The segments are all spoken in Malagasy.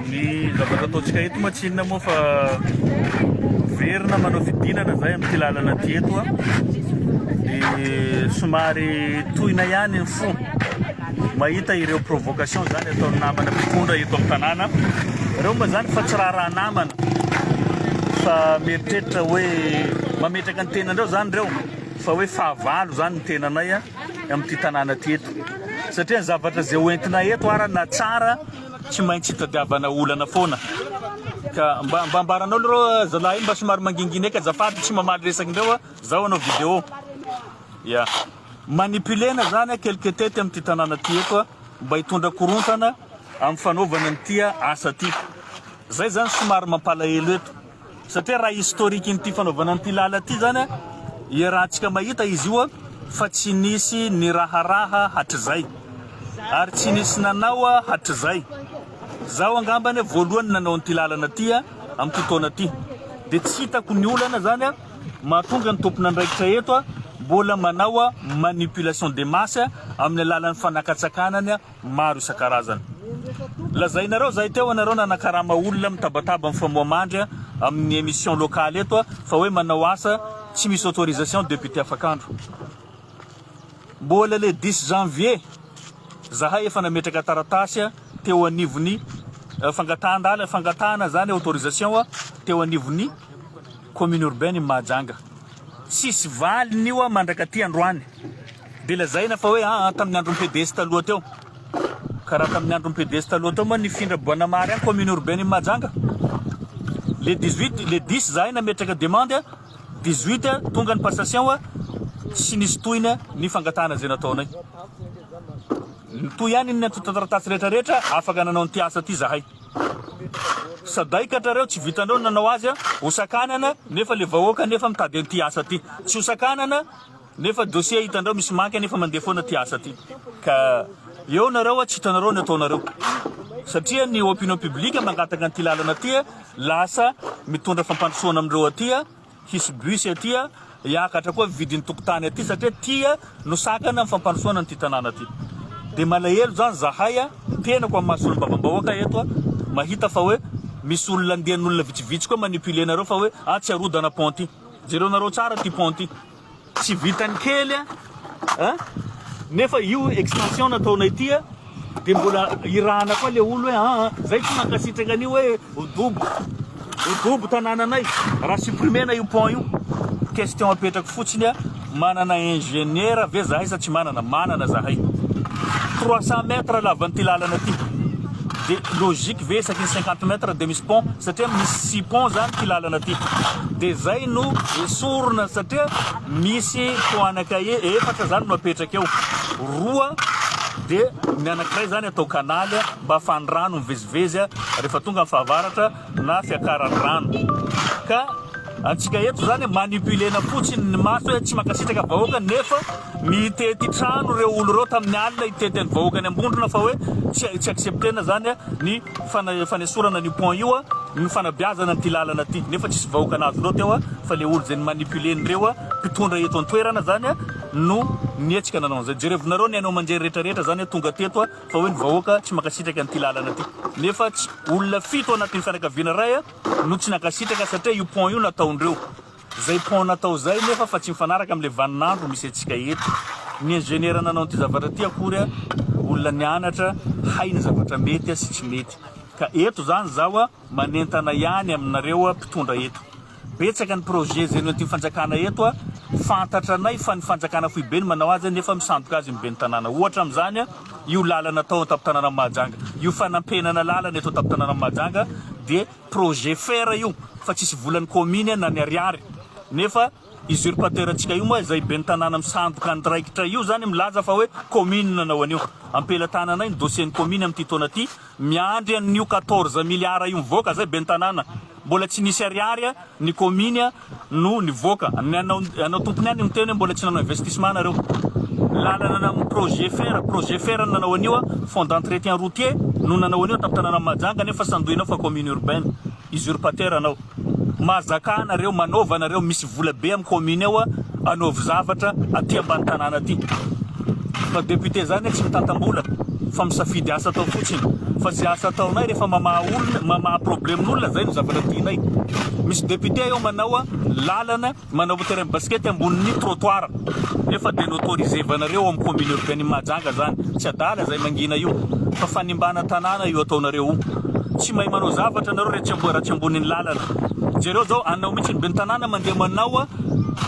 Ny zavatra ataontsika eto moa tsy inona moa fa miverina manao fidinana izay amin'ity lalana ity eto a dia somary tohina ihany ny fo mahita ireo provocation izany ataon'ny namana mpitondra eto amin'ny tanàna ireo mba izany fa tsy raharaha namana fa mieritreritra hoe mametraka ny tenanareo izany ireo fa hoe fahavalo izany ny tenanay a amin'ity tanàna ity eto satria ny zavatra izay hoentina eto arana tsara Tsy maintsy itadiavana olana foana ka mba mba ambaranao leroa zalahy iny mba somary mangingina eky azafady tsy mamaly resakindreo a zaho hanao video ya manipulena zany a quelque tety amin'ity tanàna ty eto a mba hitondra korontana amin'ny fanaovana an'ity asa ty zay zany somary mampalahelo eto Satria raha historique n'ity fanaovana an'ity lala ity zany a, iarahantsika mahita izy io a, fa tsy nisy niraharaha hatrizay, ary tsy nisy nanao a hatrizay. Zaho angamba anie voalohany nanao an'ity lalana ity a, amin'ity taona ity. Dia tsy hitako ny olana zany a, mahatonga ny tompon'andraikitra eto a, mbola manao a manipulation des masses amin'ny alalan'ny fanakatsakana ny a, maro isan-karazany. Lazainareo zay teo anareo nanakarama olona mitabataba mifamoha mandry amin'ny emission locale eto fa hoe manao asa tsy misy autorisation député afakandro. Mbola le 10 janvier zahay efa nametraka taratasy teo anivon'ny fangatahan-dalana fangatahana zany autorisation teo anivon'ny commune urbaine Mahajanga. Tsisy valiny io mandrakaty androany. Dia lazaina fa hoe aa tamin'ny andron'ny PDS taloha teo. Ka raha tamin'ny andron'ny PDS taloha teo moa nifindra Boanamary any commune urbaine Mahajanga. Le 18, le 10 zahay nametraka demande a, 18 a, tonga ny passation a, tsy nisy tohina ny fangatahana izay nataonay. Nitohy any ny antontan-taratasy rehetra rehetra afaka nanao an'ity asa ity zahay. Saday katrareo tsy vitanareo ny nanao azy a, hosakanana nefa le vahoaka nefa mitady an'ity asa ity. Tsy hosakanana. Nefa dossier hitandrao misy manque anefa mandeha foana ty asa ty ka eo nareo hoa tsy hitanareo ny ataonareo satria ny opinion publique mangataka an'ity lalana ty lasa mitondra fampandrosoana amin'ireo aty hisy bus aty hiakatra koa vidin'ny tokotany aty satria ty no sakana ny fampandrosoana an'ity tanàna ty dia malahelo zany zahay tenako amin'ny maha solombavambahoaka eto mahita fa hoe misy olona andian'olona vitsivitsy koa manipuler nareo fa hoe ah tsy arodana pont ty jereo nareo tsara ty pont ty Tsy vitan'ny kely a! Nefa io extension nataonay ity a dia mbola irahana koa le olo hoe aa ah, zay tsy mankasitraka an'io hoe odobo odobo tanànanay raha supprimer na io pont io question apetrako fotsiny a manana ingénieur ve zahay sa tsy manana manana zahay 300 mètres lavan'ity lalana ty de logique ve isaky ny cinquante mètres de misy pont satria misy pont zany ty lalana ty de zay no esorina satria misy tohana cahier efatra zany no apetraka eo roa de ny anakiray zany atao kanaly mba afahan'ny rano mivezivezy rehefa tonga ny fahavaratra na fiakaran'ny rano ka antsika eto zany manipulena fotsiny ny maso hoe tsy mankasitraka vahoaka nefa mitety trano ireo olo ireo tamin'ny alina hitety an'ny vahoaka any ambondrona fa hoe tsy tsy acceptena zany ny fana fanesorana ny pont io ny fanabeazana an'ity lalana ity nefa tsisy vahoaka nazo loatra eo fa le olo zay ny manipulena ireo a mpitondra eto an-toerana zany no nihetsika nanao an'izay jerevinareo ny haino aman-jery rehetra rehetra zany tonga teto a Fa hoe ny vahoaka tsy mankasitraka an'ity lalana ity. Nefa tsy olona fito ao anatin'ny fianakaviana iray no tsy nankasitraka satria io pont io nataondreo. Zay pont natao zay nefa fa tsy mifanaraka amin'le vanin'andro misy antsika eto. Ny ingénieur nanao an'ity zavatra ity akory olona nianatra hay ny zavatra mety sy tsy mety. Ka eto zany zaho Manentana ihany aminareo mpitondra eto. Betsaka ny projet zeno anty fanjakana eto a. Fantatra anay fa ny fanjakana foibe no manao azy nefa misandoka azy ny ben'ny tanàna. Ohatra amin'izany a, io lalana atao an-tampon-tanànan'i Mahajanga, io fanampenana lalana eto an-tampon-tanànan'i Mahajanga dia projet fer io fa tsisy volan'ny kaominy a na ny ariary. Nefa usurpateur antsika io moa izay ben'ny tanàna misandoka andraikitra io zany milaza fa hoe kaominy no nanao an'io. Ampelatananay ny dossier-n'ny kaominy amin'ity taona ty. Miandry an'io quatorze milliards io mivoaka zay ben'ny tanàna, mbola tsy nisy ariary a, ny kominy a no nivoaka, ny anao anao tompony any miteny hoe mbola tsy nanao investissement nareo, lalana na projet fer, projet fer no nanao an'io a, fonds d'entretien routier no nanao an'io tamin'ny tanànan'i Mahajanga nefa sandoinao fa commune urbaine, usurpateur anao. Mahazakà anareo, manaova anareo misy vola be am commune ao anaovy zavatra aty ambany tanàna aty fa député zany hoe tsy mitantambola fa misafidy asa atao fotsiny fa ze asa ataonay rehefa mamaha olona mamaha problème n'olona zay no zavatra tianay misy député eo manao lalana Manao terrain basket ambonin'ny trottoir nefa dia noautorisevanareo ao amin'ny commune urbaine Mahajanga izany. Tsy adala izay mangina io fa fanimbana tanàna io ataonareo io. Tsy mahay manao zavatra ianareo rehefa tsy raha tsy ambonin'ny lalana. Jereo izao anao mihitsy ny ben'ny tanàna mandeha manao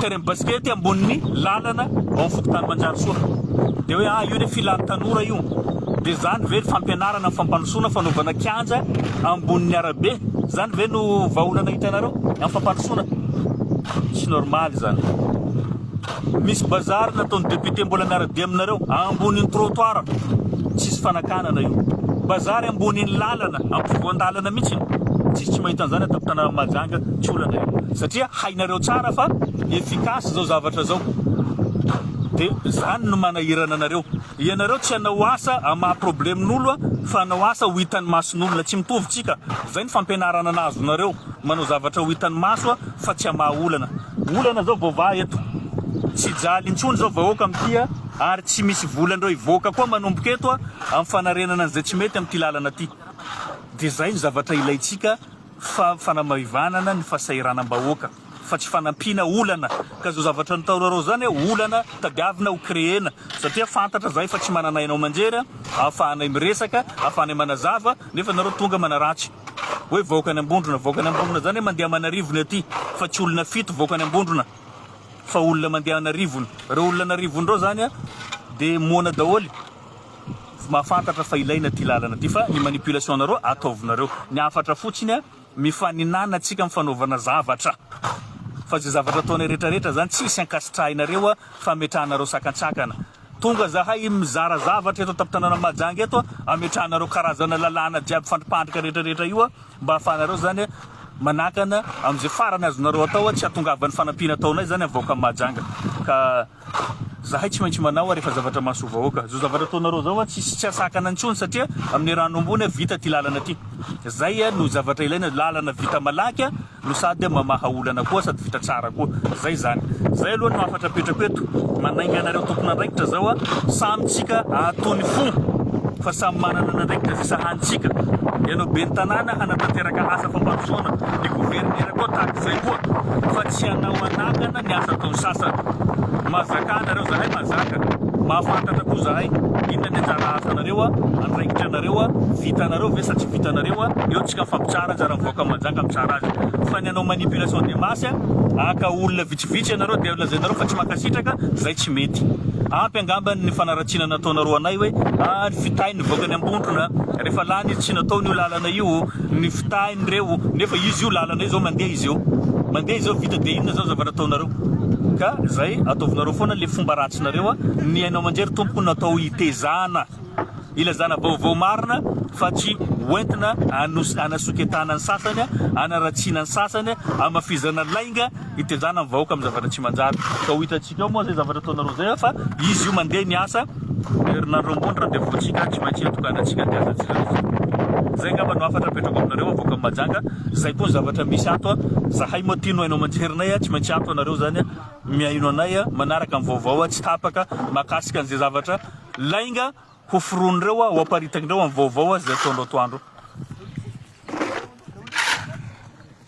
terrain basket ambonin'ny lalana ao amin'ny fokontany Manjarisoa. Dia hoe ah io ilay filan'ny tanora io. Dia zany ve ny fampianarana fampandrosoana fanaovana kianja ambonin'ny arabe? Zany ve no vahaolana hitanareo amin'ny fampandrosoana? Tsy normal zany. Misy bazary nataon'ny député mbola miara-dia aminareo ambonin'ny trottoir. Tsisy fanakanana io. Bazary ambonin'ny lalana, ampovoan-dalana mihitsy. Tsisy tsy mahita an'zany ato am-tanànan'i Mahajanga, tsy olana io. Satria hainareo tsara fa efficace zao zavatra zao. Dia zany no manahirana anareo. Ianareo tsy hanao asa hamaha problemin'olo fa hanao asa ho hitan'ny mason'olona, tsy mitovy tsika, zay ny fampianarana nahazonareo, manao zavatra ho hitan'ny maso fa tsy hamaha olana. Olana zao voavaha eto, tsy hijaly intsony zao vahoaka amty a, ary tsy misy vola ndreo hivoaka koa manomboka eto a, am fanarenana an'zay tsy mety amty lalana ty. De zay ny zavatra ilaintsika fa fanamahivanana ny fasahiranam-bahoaka. fa tsy fanampiana olana ka zao zavatra nitaorarao zany a olana tadiavina ho creena satria fantatra zahay fa tsy manana haino amanjery a ahafahanay miresaka ahafahanay manazava nefa nareo tonga manaratsy hoe vahoaka any ambondrona vahoaka any ambondrona zany a mandeha amanarivony aty fa tsy olona fito vahoaka any ambondrona fa olona mandeha anarivony reo olona anarivony reo zany a de moana daholy mahafantatra fa ilaina ty lalana ty fa ny manipulation nareo ataovinareo ny hafatra fotsiny a Mifaninana tsika am fanaovana zavatra fa ze zavatra ataonay rehetra rehetra zany tsisy ankasitrahinareo a fametrahanareo sakantsakana tonga zahay mizara zavatra eto tamptanana Mahajanga eto a ametrahanareo karazana lalàna jiaby fandripandrika rehetra rehetra io a mba ahafahanareo zany a manakana amze farany azonareo atao a tsy atongavan'ny fanampiana ataonay zany am vahoakan Mahajanga ka Zahay tsy maintsy manao ary efa zavatra mahasoa vahoaka zao zavatra ataonareo zao a tsisy tsy asakana intsony satria amin'ny rano ambony a vita ty lalana ty zay a no zavatra ilaina lalana vita malaky a no sady mamaha olana koa sady vita tsara koa zay zany zay aloha no hafatra apetrako eto manainga anareo tompon'andraikitra zao a samy tsika atony fo fa samy manana an'andraikitra zay sahanintsika ianao ben'ny tanàna hanatanteraka asa fampandrosoana ny governera koa tahaka izay koa fa tsy hanao anakana Ny asa ataon'ny sasany. Mahazakà anareo zahay mahazaka. Mahafantatra koa zahay. Inona ny anjara asanareo, andraikitra anareo, vitanareo ve sa tsy vitanareo, eo tsika fa mpitsara anjara mivoaka manjaka mitsara azy. Fa ny hanao manipulation de masse, haka olona vitsivitsy ianareo dia lazainareo fa tsy mankasitraka, zay tsy mety. Ampy angambany ny fanaratsiana nataonareo anay hoe, ah, ny fitahiny nivoaka any ambondrona, rehefa lany izy tsy nataony io lalana io, Ny fitahiny re o! Nefa izy io lalana io zao mandeha izy eo mandeha izy eo vita dia inona zao zavatra ataonareo ka zay ataovinareo foana le fomba ratsinareo a! Ny haino aman-jery tompoko natao hitezana ilazana vaovao marina fa tsy hoentina hanosy hanasoketana ny sasany a! Hanaratsiana ny sasany a! Hamafizana lainga. Hitenjana ny vahoaka amin'ny zavatra tsy manjary ka ho hitantsika ao moa izay zavatra ataonareo izay fa izy io mandeha ny asa herinandro ambony randevoantsika tsy maintsy itokanantsika dia azantsika izay ngamba no hafatra apetrako aminareo avoaka amin'ny majanga izay koa ny zavatra misy ato a zahay moa tino haino aman-jerinay a tsy maintsy ato anareo izany a mihaino anay a manaraka amin'ny vaovao a tsy tapaka makasika an'izay zavatra lainga ho foronireo a ho aparitakinireo amin'ny vaovao a izay ataonao toandro